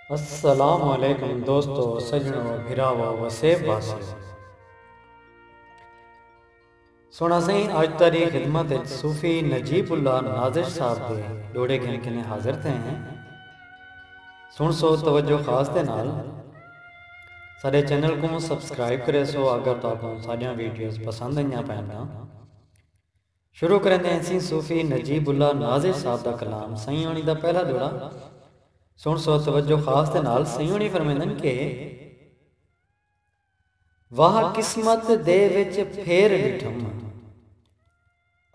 السلام علیکم دوستو سجنو بھراوو وسیب واسیو سونا سائیں اج تاری خدمت وچ صوفی نجیب اللہ نازش صاحب دے ڈوڑے گھن کنے حاضر تھے ہیں سن سو توجہ خاص دے نال سارے چینل کو سبسکرائب کرے سو اگر تو آپ ساڈیاں ویڈیوز پسند ہیں پہننا شروع کریندے ہنسیں صوفی نجیب اللہ ناظر صاحب دا کلام سئیں ہوݨی دا پہلا جوڑا سݨ سو توجہ خاص دے نال سئیں ہوݨی فرمیندن کہ واہ قسمت دے وچ پھیر ݙٹھم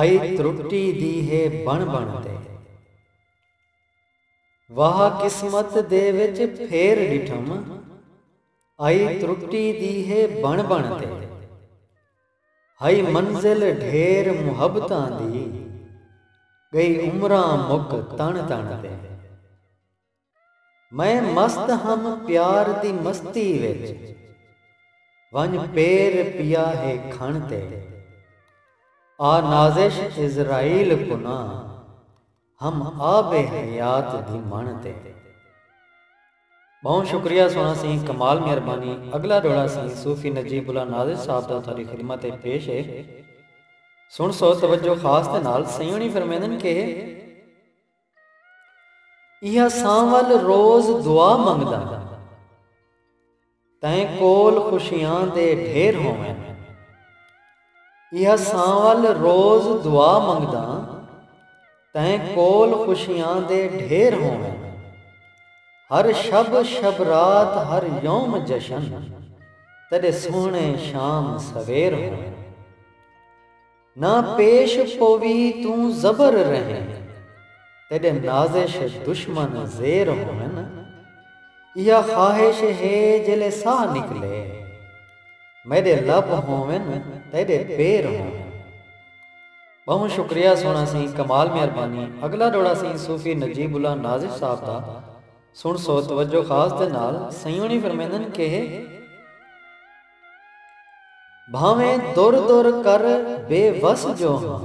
آئی ترٹی دی ہے بݨ بݨ تے واہ قسمت دے وچ پھیر ݙٹھم آئی ترٹی دی ہے بݨ بݨ تے۔ ہئی منزل ڈھیر محبتاں دی گئی عمراں مک تݨ تݨ تے میں مست ہم پیار دی مستی وچ ونڄ پیر پیا ہے کھݨ تے آ نازش عزرائیل کناں ہم آب حیات دی مݨ تے۔ ٻہوں شکریہ سوہݨا سئیں کمال مہربانی اڳلا ݙوہڑا سئیں صوفی نجیب اللہ ناظر صاحب دا تہاݙی خدمت اچ پیش ہے سݨسو توجہ خاص دے نال سئیں ہوݨی فرمیندن کہ ایہا سانول روز دعا منگداں تیں کول خوشیاں دے ڈھیر ہوون۔ احساں ول روز دعا منگداں۔ تیں کول خوشیاں دے ڈھیر ہوون۔ ہر شب شب رات ہر یوم جشن۔ تیڈے سوہنے شام سویر ہوون۔ نہ پیش پووی توں زبر رہیں۔ تیݙے نازش دشمن زیر ہوون۔ ایہا خواہش ہے جیلے ساہ نکلے۔ میݙے لب ہوون تیݙے پیر ہوون۔ ٻہوں شکریہ سوہݨا سی کمال مہربانی اگلا ݙوہڑا سی صوفی نجیب اللہ نازش صاحب دا سݨسو توجہ خاص دے نال سئیں ہوݨی فرمیندن کہہ۔ بھانویں در در کر بے وس جو ہاں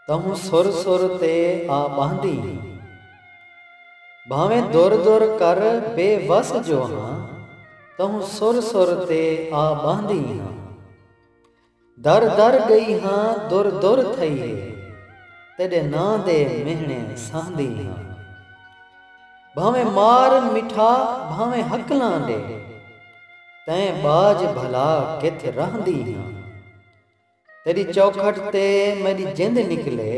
تہوں سر سر تے آ ٻہندی ہیں بھانویں در در کر بے وس جو ہاں تہوں سر سر تے آ ٻہندی ہیں۔ در در ڳئی ہاں در در تھئی ہے تیݙے ناں دے مہݨے سہندی ہاں بھانویں مار مٹھا بھانویں ہکلاں ݙے تئیں ٻاجھ بھلا کتھ رہندی ہاں تیݙی چوکھٹ تے میݙی جند نکلے۔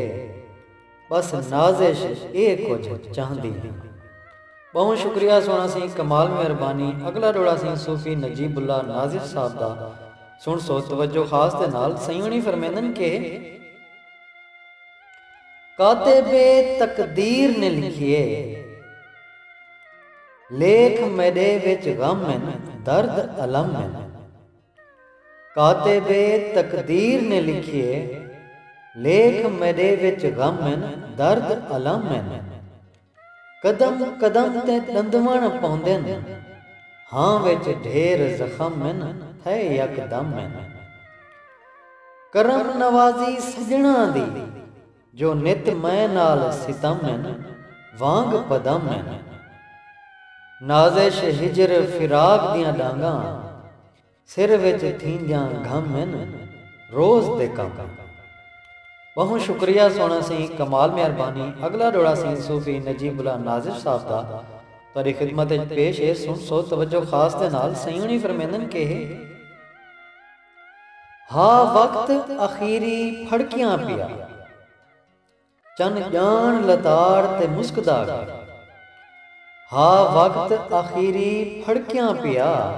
بس نازش اے کجھ چاہندی ہاں۔ بہوں شکریہ سنڑا سیں کمال مہربانی اگلا ڈوڑا سیں صوفی نجیب اللہ نازش صاحب دا سنڑ سو توجہ خاص دے نال سئیونی فرمیندن کہ۔ کاتب تقدیر نے لکھیے لیکھ میڈے وچ غم ہن درد الم ہن۔ کاتب تقدیر نے لکھیے لیکھ میڈے وچ غم ہن درد الم ہن قدم قدم تے ڈندوݨ پوندن ہاں وچ ڈھیر زخم ہن تھئے یکدم ہن کرم نوازی سڄݨاں دی جو نت میں نال ستم ہن وانگ پدم ہن۔ نازش ہجر فراق دیاں ڈانگاں سر وچ تھیندیاں گھم ہن روز دے کم ہن۔ ٻہوں شکریہ سوہݨا سی کمال مہربانی اڳلا ݙوہڑا سی صوفی نجیب اللہ نازش صاحب دا تہاݙی خدمت اچ پیش ہے سݨسو توجہ خاص دے نال سئیں ہوݨی فرمیندن کہ ہے۔ ہا وقت اخیری پھڑکیاں پیا۔ چن ڄاݨ لتاڑ تے مسکدا گے۔ ہا وقت اخیری پھڑکیاں پیا۔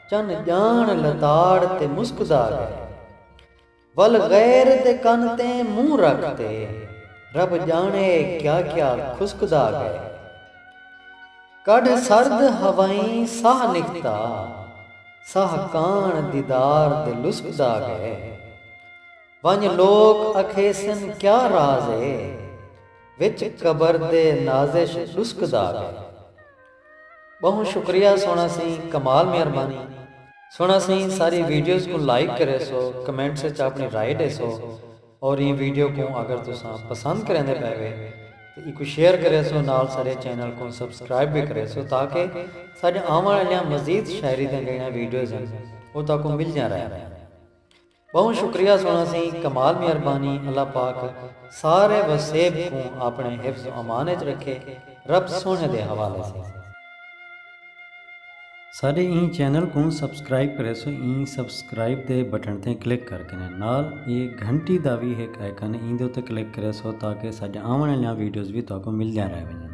چن ڄاݨ لتاڑ تے مسکدا گے۔ ول غیر دے کن تیں منہ رکھ تے۔ رب ڄاݨے کیا کیا کھسکدا گے۔ کڈھ سرد ہوائیں ساہ نکھدا ساہ کاݨ دیدار دے لسکدا ڳئے ونڄ لوک اکھیسن کیا راز اے وچ قبر دے نازش ݙسکدا ڳئے ٻہوں شکریہ سوہݨا سئیں کمال مہربانی سوہݨا سئیں ساری ویڈیوز کوں لائک کریسو کمنٹس اچ آپݨی رائے ݙیسو۔ اور ایں ویڈیو کوں اگر تساں پسند کریندے پئے وے تاں ایکوں شیئر کریسو نال ساڈے چینل کوں سبسکرائب وی کریسو تاکہ ساڈے آوݨ آلیاں مزید شاعری دیاں جیڑھیاں ویڈیوز ہن او تہاکوں ملدیاں رہن۔ ٻہوں شکریہ سݨاں سی کمال مہربانی اللہ پاک سارے وسیب کوں آپݨے حفظ و امان اچ رکھے رب سوہݨے دے حوالے سی۔ سارے این چینل کوں سبسکرائب کرے سو این سبسکرائب دے بٹن تے کلک کر کے نال اے گھنٹی دا وی ہک آئیکن ایندے تے کلک کرے سو تاکہ ساڈے آون والیاں ویڈیوز وی تہاکوں ملدیاں رہ ونجن